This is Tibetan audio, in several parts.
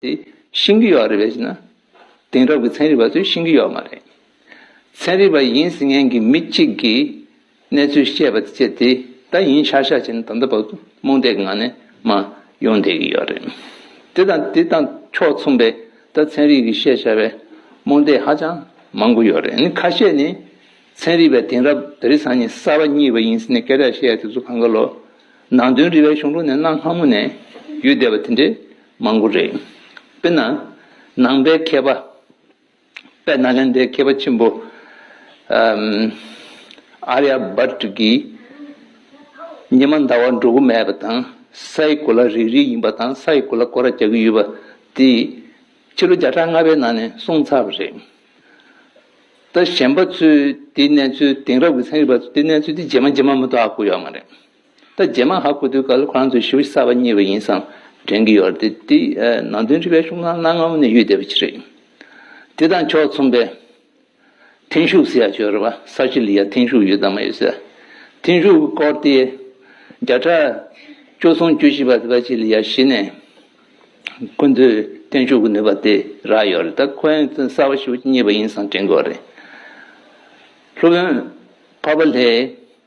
དེ་ཤིང་གི་ཡོག་རེད་བས་ན། དེང་རབས་ཀྱི་ཚན་རིག་པ་ཚོས་ཤིང་གི་ཡོག་མ་རེད། ཚན་རིག་པ་ཡིན་ཟིན་མཁན་གྱི་མི་གཅིག་གིས་གནས་ཚུལ་བཤད་པ་དེ་ཚད་དེ་ད་ཡིན་ཤག་ཤག་བྱས་ན་ད་ལྟ་བབ་རྨོངས་དད་ཀྱི་ངང་ནས་མ་ཡོང་བསྡད་ཀྱི་ཡོག་རེད། དེ་དང་དེ་དང་ཕྱོགས་མཚུངས་པའི་ད་ཚན་རིག་གིས་བཤད་བྱ་བའི་རྨོངས་དད་ཧ་ཅང་མང་པོ་ཡོག་རེད། ཁ་ཤས་ནི་ཚན་རིག་པས་དེང་རབས་དརི་སང་ཉིན་གསར་པ་གཉིས་པ་ཡིན་ཟིན་ནས་སྐད་གྲགས་བཤད་ཡ་དེ་ཚོ་གངས་དཀར་ལོ། ནང་དོན་རི་བའི་གཞུང་ལུགས་ནས་གནའ་སྔ་མོ་ནས་ཡོད་བསྡད་པ་དེ་འདྲའི་མང་པོ་རེད། དཔེར་ན། ནང་པའི་མཁས་པ། དཔལ་ནཱ་ལེནྡྲའི་མཁས་པ་ཆེན་པོ། Arya Bhatt། གྱིས། ཉི་མ་ཟླ་བ་འགྲོ་གི་མེད་པ་དང་སའི་གོ་ལ་རིལ་རིལ་ཡིན་པ་དང་སའི་གོ་ལ་སྐོར་ར་རྒྱག་གི་ཡོད་པ་དེ། ཕྱི་ལོ་བརྒྱ་ཕྲག་ལྔ་པའི་ནང་ནས་གསུངས་ཚར་བ་རེད། ད་གཞན་པ་ཚོས་དེའི་གནས་ཚུལ་དེང་རབས་ཀྱི་ཚན་རིག་པ་ཚོས་དེའི་གནས་ཚུལ་དེ་རྗེས་མ་རྗེས་མ་མི་རྟོགས་ཨ་གོ་ཡོད་མ་རེད། ད་རྗེས་མ་ཧ་གོ་དུས་ག་ལེར་ཁོ་རང་ཚོའི་ཞི་བ་གསར་པ་རྙེད་པ་ཡིན་བསམ་དྲན་གྱི་ཡོད་རེད་དེ། ནང་དོན་རིག་པའི་གཞུང་ལམ་གནའ་སྔ་མོ་ནས་ཡོད་བསྡད་པ་ཅིག་རེད། དེ་དང་ཕྱོགས་མཚུངས་པའི། ཐེངས་ཤུགས་ཟེར་ཡག་ཆོག་རེད་བ་ས་ཞི་ལི་ཡ་ཐེངས་ཤུགས་ཡོད་དམ་མ་ཡོད་ཟེར། ཐེངས་ཤུགས་སྐོར་དེ། བརྒྱ་ཕྲག། བཅུ་གསུམ་བཅུ་བཞི་བར་དེ་བ་ཞི་ལི་ཡ་གཞི་ནས། ཁོ་ཚོའི་ཐེངས་ཤུགས་ཀྱི་ནུས་པ་དེ་རག་ཡོད་རེད་ད་ཁོ་རང་ཚོའི་གསར་བ་ཞི་བ་རྙེད་པ་ཡིན་བསམ་དྲན་གི་ཡོད་རེད། སློབ་དཔོན་ཕ་བ་ལྷས།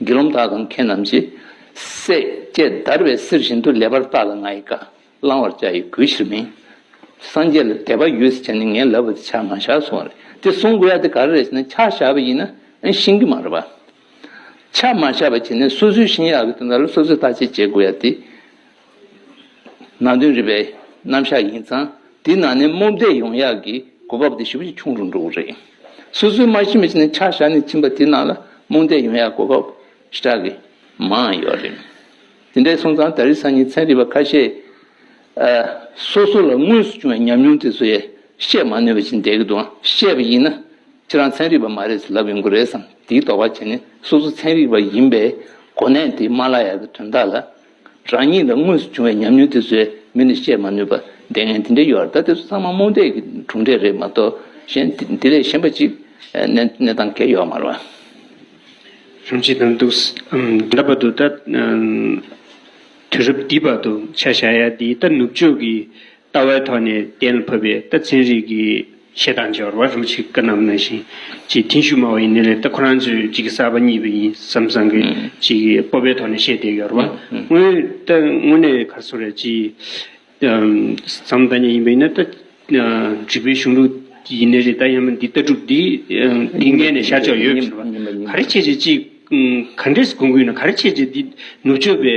དགེ་སློང་དག་གམ་ཁྱེད་རྣམས་ཀྱིས། སྲེག་བཅད་བརྡར་བའི་གསེར་བཞིན་དུ་ལེགས་པར་བཏགས་ལ་ང་ཡི་བཀའ་བླང་བར་བཅའ་ཡི་གུས་ཕྱིར་མིན། སངས་རྒྱས་ལ་དད་པ་ཡོད་ཟེར་བྱས་ནས་ངས་ལབ་པ་དེ་ཕྱག་མ་བཞག་གསུང་བ་རེད་དེ་གསུང་དགོས་ཡ་དེ་ག་རེ་རེད་ཟེར་ན་ཕྱག་བཞག་པ་ཡིན་ན་ཤིང་གི་མ་རེད་པ། ཕྱག་མ་བཞག་པ་བྱས་ནས་སོ་སོའི་ཤིང་ཡག་གི་དོན་དག་ལ་སོ་སོས་བརྟག་དཔྱད་བྱེད་དགོས་ཡ་དེ། ནང་དོན་རིག་པའི་རྣམ་གཞག་ཡིན་ཙང་དེའི་ནང་ནས་རྨོངས་དད་ཡོང་ཡག་གི་གོ་བབ་དེ་ཞིབ་ཕྲ་ཞིག་འཁྱོངས་རུང་འགྲོ་གི་རེད། སོ་སོའི་མ་ཤི་མི་ཤི་ནས་ཆ་བཞག་ནས་ཕྱིན་པ་དེའི་ནང་ལ་རྨོངས་དད་ཡོང་ཡག་གི་གོ་བབ་ཞེ་དྲག་གི་མང་ཡོད་རེད། དེ་འདྲས་སོང་ཙང་ད་རེས་སང་ཉིན་ཚན་རིག་པ་ཁ་ཤས་སོ་སོ་ལ་དངོས་སུ་བྱུང་བའི་ཉམས་མྱོང་དེ་ཚོ་ཡ་བཤད་མ་ནུས་པ་ཞིག་འདས་ཀྱི་འདུག་ཨང་བཤད་པ་ཡིན་ན་ཁྱེད་རང་ཚན་རིག་པ་མ་རེད་ཟེར་ལབ་ཡོང་གི་རེད་བསམ་དེའི་དོགས་པ་བྱས་ནས་སོ་སོ་ཚན་རིག་པ་ཡིན་པའི་གོ་གནས་དེ་མ་བརླག་ཡག་གི་དོན་དག་ལ། རང་ཉིད་ལ་དངོས་སུ་བྱུང་བའི་ཉམས་མྱོང་དེ་ཚོའི་མིང་ནི་བཤད་མ་ནུས་པར་ལྟས་ངན་དེ་འདྲའི་ཡོད་ད་ལྟ་ཚང་མ་རྨོངས་དད་ཀྱི་གྲུབ་འབྲས་རེད་མ་གཏོགས་གཞན་དེ་ལས་གཞན་པ་ཅིག་གནས་སྟངས་འགལ་ཡོད་མ་རེད། སྙམ་བྱེད་དུ་འདུག་འདི་འདྲ་བ་དུ་ད་དུས་རབས་འདི་བར་དུ་ཆ་བཞག་ཡ་འདིའི་ད་ནུབ་ཕྱོགས་ཀྱི་ལྟ་བའི་ཐོག་ནས་གཏན་ལ་ཕབ་པའི་ད་ཚན་རིག་གི་ཤེས་དང་སྦྱོར་བ་རུ་ཆིག་ཀ་རྣམས་ན་བཞིན་གྱི་མཐིང་ཤུ་མ་བའི་ནི་ལས་ལྟ་ཁོ་རང་ཚོའི་གཅིག་གི་གསར་པ་གཉིས་པ་ཡིན་བསམ་བཟང་གི་གཅིག་གི་སྤོབས་པའི་ཐོག་ནས་བཤད་དེ་ཡོར་བ་དངོས་ལྟ་དངོས་གནས་གར་སོ་རེད་ཅེས་བསམ་ཐ་སྙད་ཡིན་པའི་ནི་ལྟ་བྱེད་པའི་གཞུང་ལུགས་ཡིན་ནི་རེད་ད་ཡིན་མིན་འདི་ལྟ་གྲུབ་འདི་འདི་ངས་ནས་ཤར་ཕྱོགས་ཡོད་ཟེར་བ་ག་རེ་བྱས་བྱས་ཅིག་ག་འདྲས་སུ་གོང་གུས་ན་ག་རེ་བྱས་བྱས་འདི་ནུབ་ཕྱོགས་པའི།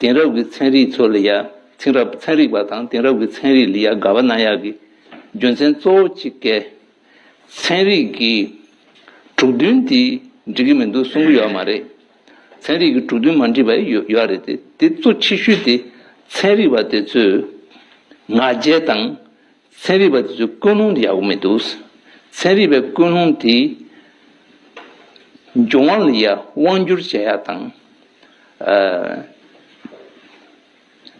དེང་རབས་ཀྱི་ཚན་རིག་ཚོ་ལི་ཡཱ། ཚིང་རབས་ཚན་རིག་པ་དང་དེང་རབས་ཀྱི་ཚན་རིག་ལི་ཡཱ་དགའ་བ་ན་ཡག་གི་རྒྱུ་མཚན་གཙོ་བོ་གཅིག་སྐད། ཚན་རིག་གི་དྲུག་བདུན་དེ་འགྲིག་གི་མི་འདུག་གསུང་གི་ཡོད་མ་རེད། ཚན་རིག་གི་དྲུག་བདུན་མ་འགྲིག་པ་ཡོད་ཡོད་རེད་དེ། དེ་གཙོ་ཆེ་ཤོས་དེ་ཚན་རིག་པ་དེ་ཚོས་ང་རྒྱལ་དང་ཚན་རིག་པ་དེ་ཚོའི་ཀུན་སློང་དེ་ཡག་པོ་མི་འདུག་ཚན་རིག་པའི་ཀུན་སློང་དེ་འབྱུང་བ་ལ་ཡང་དབང་བསྒྱུར་བྱེད་ཡག་དང།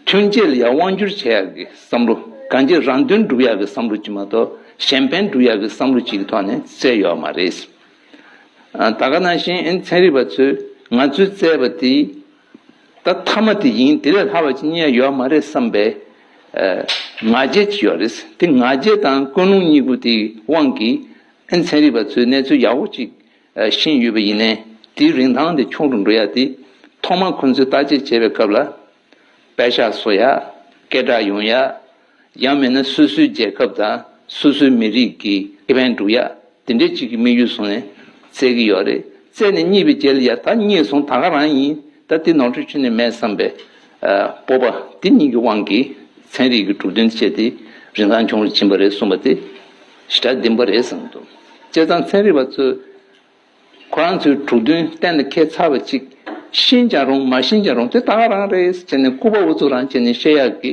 ཐོན་སྐྱེད་ལ་ཡང་དབང་བསྒྱུར་བྱེད་ཡག་གི་བསམ་བློ་གང་ཅིའི་རང་དོན་སྒྲུབ་ཡག་གི་བསམ་བློ་གཅིག་མ་གཏོགས་གཞན་ཕན་སྒྲུབ་ཡག་གི་བསམ་བློ་གཅིག་གི་ཐོག་ནས་བཙལ་ཡོད་མ་རེད། ད་ག་ནང་བཞིན་ཚན་རིག་པ་ཚོས་ང་ཚོས་བཙལ་བ་དེ་ད་མཐའ་མ་དེ་ཡིན་དེ་ལས་ལྷག་པ་ཅི་ཉན་ཡོད་མ་རེད་བསམ་པའི་ང་རྒྱལ་གྱིས་ཡོད་རེད་དེ་ང་རྒྱལ་དང་ཀུན་སློང་གཉིས་པོ་དེའི་དབང་གིས་ཨེན་ཚན་རིག་པ་ཚོས་གནས་ཚུལ་ཡག་པོ་གཅིག་ཤེས་ཡོད་པ་ཡིན་ནའི་དེའི་རིན་ཐང་དེ་ཁྱོང་དུ་འགྲོ་ཡ་དེ་ཐོག་མ་ཁོང་ཚོས་བརྟག་དཔྱད་བྱེད་པའི་སྐབས་ལ་བལ་ཤ་བཟོ་ཡ་སྐད་གྲགས་ཡོང་ཡ། ཡང་མིན་ན་སོ་སོའི་རྒྱལ་ཁབ་དང་སོ་སོའི་མི་རིགས་ཀྱི་ཁེ་ཕན་སྒྲུབ་ཡ་དེ་འདྲའི་ཅིག་གི་དམིགས་ཡུལ་བཟུང་ནས་བཙལ་གྱི་ཡོད་རེད་བཙལ་ནས་རྙེད་པའི་རྗེས་ལ་ཡ་ད་རྙེད་སོང་ད་ག་རང་ཡིན་ད་དེ་ནོར་འཁྲུལ་བྱུང་ནས་མེད་བསམ་པའི་སྤོབས་པ་དེ་གཉིས་ཀྱི་དབང་གིས་ཚན་རིག་གི་གྲུབ་དོན་སྤྱད་དེ་རིན་ཐང་ཆུང་རུ་ཕྱིན་པ་རེད་གསུངས་པ་དེ་ཞི་དྲག་བདེན་པ་རེད་བསམ་འདུག་བྱས་ཙང་ཚན་རིག་པ་ཚོས་ཁོ་རང་ཚོའི་གྲུབ་དོན་གཏན་ལ་འཁེལ་ཚར་བ་ཅིག་ཤེས་ཀྱང་རུང་མ་ཤེས་ཀྱང་རུང་དེ་ད་ག་རང་རེད་ཟེར་ནས་སྐུར་པ་འུ་ཚོ་རང་བྱས་ནས་བཤད་ཡག་གི།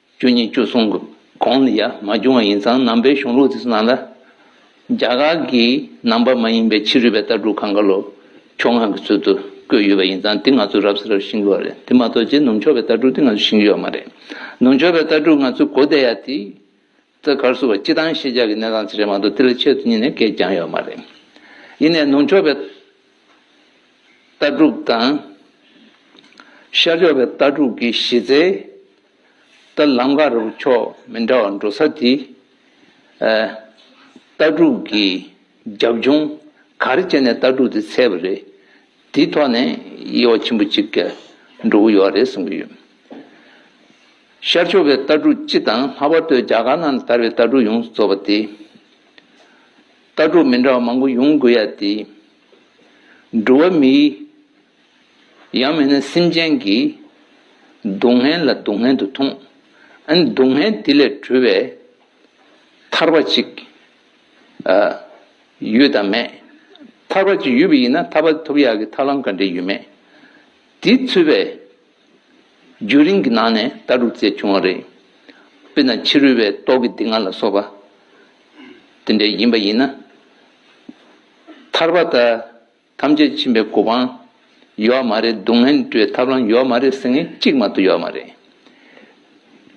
བཅུ་གཉིས་བཅུ་གསུམ་གྱི་གོང་ནས་ཡར་མ་བྱུང་བ་ཡིན་ཙང་ནང་པའི་གཞུང་ལུགས་དེ་ཚོའི་ནང་ལ། རྒྱ་གར་གྱི་ནང་པ་མ་ཡིན་པའི་ཕྱི་རུལ་བའི་ལྟ་གྲུབ་གངྒཱ་ལོ་ཕྱོགས་ངང་གི་ཚུལ་དུ་བཀོད་ཡོད་པ་ཡིན་ཙང་དེ་ང་ཚོས་རབ་ས་རབ་ཤིང་གི་བ་རེད་དེ་མ་གཏོགས་རྗེ་ནུབ་མཆོག་པའི་ལྟ་གྲུབ་དེ་ང་ཚོས་ཤིང་གི་ཡོད་མ་རེད། ནུབ་མཆོག་པའི་ལྟ་གྲུབ་ང་ཚོས་གོ་བདེ་ཡ་དེ། རྩེད་གར་བསུ་བ་སྤྱི་དང་ཤེས་བྱ་གི་གནས་སྟངས་ཚུལ་རེ་མང་དུ་དེ་ལ་ཆེད་དུ་གཉིས་ནས་བཀལ་བསྐྱངས་ཡོད་མ་རེད། ཡིན་ནས་ནུབ་ཕྱོགས་པའི་ལྟ་གྲུབ་དང། ཤར་ཕྱོགས་པའི་ལྟ་གྲུབ་ཀྱི་གཞི་རྩའི་ལྟ་ལམ་འགའ་རེ་རོ་ཕྱོགས་མི་འདྲ་བ་འགྲོ་ས་དེ། ལྟ་གྲུབ་ཀྱི་རྒྱབ་ལྗོངས་ག་རེ་བྱས་ནས་ལྟ་གྲུབ་དེ་འཚལ་བ་རེད། དེའི་ཐོག་ནས་དབྱེ་བ་ཆེན་པོ་གཅིག་གི་འགྲོ་གི་ཡོད་རེད་གསུང་གི་ཡོད། ཤར་ཕྱོགས་པའི་ལྟ་གྲུབ་སྤྱི་དང་ལྷག་པར་དུ་རྒྱ་གར་ནང་དར་བའི་ལྟ་གྲུབ་ཡོངས་སུ་རྫོགས་པ་དེ། ལྟ་གྲུབ་མི་འདྲ་བ་མང་པོ་ཡོང་དགོས་ཡ་དེ། འགྲོ་བ་མིའི། ཡང་མིན་ན་སེམས་ཅན་གྱི། སྡུག་བསྔལ་ལ་སྡུག་བསྔལ་དུ་མཐོང། ཨན་སྡུག་བསྔལ་དེ་ལས་གྲོལ་བའི། ཐར་བ་གཅིག། ཡོད་དམ་མེད། ཐར་པ་ཅིག་ཡོད་པ་ཡིན་ན་ཐར་པ་ཐོབ་ཡག་གི་ཐབས་ལམ་ག་འདྲེ་ཡོད་མེད། དེ་ཚུད་པའི་རྒྱུན་རིང་གི་ནང་ནས་ལྟ་གྲུབ་བཙལ་བྱུང་བ་རེད། དཔེར་ན་ཕྱི་རོལ་བའི་རྟོག་གི་སྡིག་ལྔ་ལ་སོགས་པ་དེ་འདྲེ་ཡིན་པ་ཡིན་ན་ཐར་པ་དང། ཐམས་ཅད་ཕྱིན་པའི་གོ་འཕང་ཡོད་མ་རེད་སྡུག་བསྔལ་འགྲོའི་ཐབས་ལམ་ཡོད་མ་རེད་སེམས་ངལ་གཅིག་མ་གཏོགས་ཡོད་མ་རེད།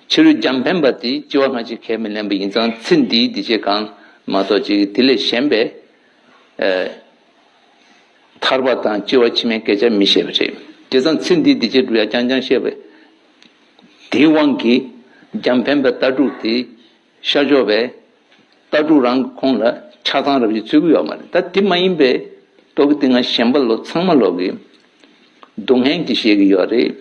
ཕྱི་རོལ་འཇམ་ཕན་པ་དེས་སྐྱེ་བ་སྔ་ཕྱི་ཁས་མི་ལེན་པ་ཡིན་ཙང་ཚེ་འདིའི་འདི་བྱེད་གང་མ་གཏོགས་ཅི་དེ་ལས་གཞན་པའི། ཐར་པ་དང་སྐྱེ་བ་ཕྱི་མའི་སྐད་ཆ་མི་བཤད་པ་རེད་དེ་ཙང་ཚེ་འདིའི་འདི་བྱེད་འགྲུབ་ཡ་རྐྱང་རྐྱང་བཤད་པ། དེའི་དབང་གིས་འཇམ་ཕན་པའི་ལྟ་གྲུབ་དེ། ཤར་ཕྱོགས་པའི་ལྟ་གྲུབ་རང་གི་ཁོང་ལ་ཆགས་སྡང་རབ་ཡིན་ཚུལ་གྱི་ཡོད་མ་རེད་ད་དེ་མ་ཡིན་པའི་ཏོག་གི་ཏིང་ང་གཞན་པ་ལོ་ཚང་མ་ལོག་གི་སྡུག་བསྔལ་གྱི་བཞེས་ཀྱི་ཡོད་རེད་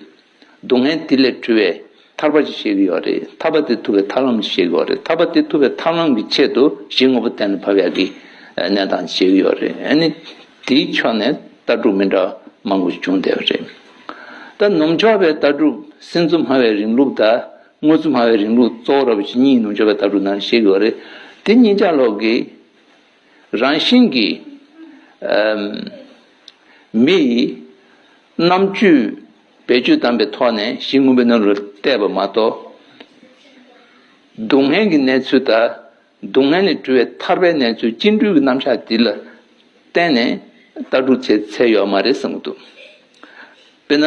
སྡུག་བསྔལ་དེ་ལས་འཁྲུལ་བའི་ཐར་པ་ཅིག་བཞེས་ཀྱི་ཡོད་རེད་ཐར་པ་དེ་ཐུབ་པའི་ཐར་ལམ་ཅིག་བཞེས་ཀྱི་ཡོད་རེད་ཐར་པ་དེ་ཐུབ་པའི་ཐར་ལམ་གྱི་ཆེད་དུ་གཞི་དངོས་པོ་གཏན་ལ་ཕབ་ཡག་གི་གནས་སྟངས་ཅིག་བཞེས་ཀྱི་ཡོད་རེད་ཨ་ནི་དེའི་ཕྱོགས་ནས་ལྟ་གྲུབ་མི་འདྲ་བ་མང་པོ་ཞིག་བྱུང་བསྡད་པ་རེད་ད་ནུབ་ཕྱོགས་པའི་ལྟ་གྲུབ་སེམས་གཙོ་སྨྲ་བའི་རིང་ལུགས་ད། དངོས་གཙོ་སྨྲ་བའི་རིང་ལུགས་གཙོ་བོ་ར་བའི་ཇི་སྙིད་ཡིན་ནོ་འབྱོར་པའི་ལྟ་གྲུབ་ནང་བཤད་དགོས་པ་རེད། དེ་སྙིང་ལྕགས་ལོག་གི། རང་བཞིན་གྱི། མི་ཡི། རྣམ་དཔྱོད། བེད་སྤྱོད་བཏང་པའི་ཐོག་ནས་གཞི་དངོས་པོའི་སྣོད་རུ་གཏད་པ་མ་གཏོགས། སྡུག་བསྔལ་གྱི་གནས་ཚུལ་དང། སྡུག་བསྔལ་ལས་གྲོལ་བའི་ཐར་པའི་གནས་ཚུལ་སྤྱི་འགྲོས་ཀྱི་རྣམ་གཞག་འདི་ལ་བརྟེན་ནས་ལྟ་གྲུབ་ཚེ་ཚད་ཡོད་མ་རེད་བསམ་གྱི་འདུག་དཔེར་ན།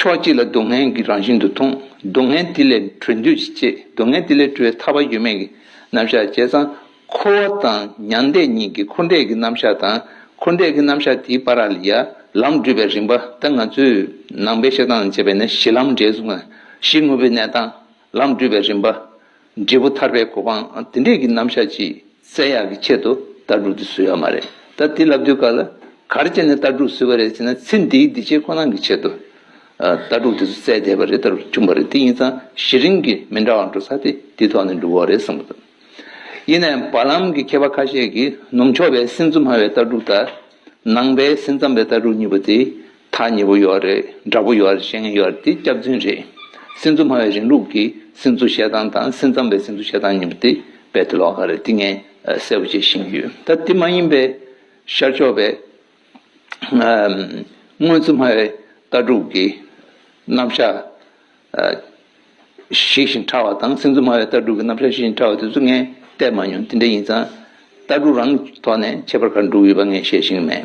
ཕྱོགས་གཅིག་ལ་སྡུག་བསྔལ་གྱི་རང་བཞིན་དུ་མཐོང། སྡུག་བསྔལ་དེ་ལས་གྲོལ་འདོད་ཀྱིས་སྐྱེས་སྡུག་བསྔལ་དེ་ལས་གྲོལ་བའི་ཐར་བ་ཡོད་མེད་ཀྱི་རྣམ་གཞག་བྱས་ཙང་འཁོར་བ་དང་མྱང་འདས་གཉིས་ཀྱི་འཁོར་འདས་ཀྱི་རྣམ་གཞག་དང་འཁོར་འདས་ཀྱི་རྣམ་གཞག་དེའི་པ་ར་ལི་ཡ་ལམ་བསྒྲོད་པའི་རིམ་པ་ལྟར་ང་ཚོས་ནང་པའི་བཤད་སྟངས་སྤྱད་པས་ནི་གཞི་ལམ་འབྲས་བུ་ལྔ་གཞི་དངོས་པོའི་གནས་དང་ལམ་བསྒྲུབ་པའི་རིམ་པ། འབྲས་བུ་ཐར་པའི་གོ་འཕང་འདི་འདྲས་ཀྱི་རྣམ་གཞག་ཅི་གསལ་ཡག་གི་ཆེད་དུ་ལྟ་གྲུབ་འདི་བཟོས་ཡོད་མ་རེད་ད་དེ་ལབ་དུས་ག་ལ་གར་བྱས་ནས་ལྟ་གྲུབ་བཟོས་པ་རེད་ཅེ་ན་ཚེ་འདིའི་འདི་བྱེད་ཁོ་ན་གི་ཆེད་དུ་ལྟ་གྲུབ་འདི་ཚོ་བཙལ་བསྡད་པ་རེད་ལྟ་གྲུབ་བྱུང་བ་རེད་དེ་ཡིན་ཙང་གཞི་རིམ་གྱི་མི་འདྲ་བ་འགྲོ་ས་དེ་དེའི་ཐོག་ནས་འགྲོ་འོ་རེད་བསམ་གི་འདུག་ཡིན་ནའི་བར་ལམ་གྱི་མཁས་པ་ཁ་ཤས་ཀྱིས་ནུབ་ཕྱོགས་པའི་སེམས་གཙོ་སྨྲ་བའི་ལྟ་གྲུབ་དང། ནང་པའི་སེམས་ཙམ་པའི་ལྟ་གྲུབ་གཉིས་པོ་དེ་ཐག་ཉེ་བོ་ཡོད་རེད་འདྲ་པོ་ཡོད་རེད་བཤད་མཁན་ཡོད་རེད་འདི་སྐྱག་རྫུན་རེད། སེམས་གཙོ་སྨྲ་བའི་རིང་ལུགས་ཀྱི་སེམས་གཙོ་བཤད་སྟངས་དང་སེམས་ཙམ་པའི་སེམས་གཙོ་བཤད་སྟངས་གཉིས་པོ་དེ་རྦད་དེ་ལོག་ཁ་རེད་འདི་ངས་གསལ་པོ་བརྗེད་ཤེས་ཀྱི་ཡོད་ད་དེ་མ་ཡིན་པའི་ཤར་ཕྱོགས་པའི་དངོས་གཙོ་སྨྲ་བའི་ལྟ་གྲུབ་ཀྱི་རྣམ་གཞག་ཞིག་བཞིན་ཕྲ་བ་དང་སེམས་ཚོར་སྨྲ་བའི་ལྟ་གྲུབ་ཀྱི་རྣམ་གཞག་ཞིག་བཞིན་ཕྲ་བ་དེ་ཚོ་ངས་བལྟས་མ་མྱོང་དེ་འདྲ་ཡིན་ཙང། ལྟ་གྲུབ་རང་གི་ཐོག་ནས་ཁྱད་པར་ག་རེ་འགྲོ་གི་ཡོད་པ་ངས་བཤད་བཞིན་མེད།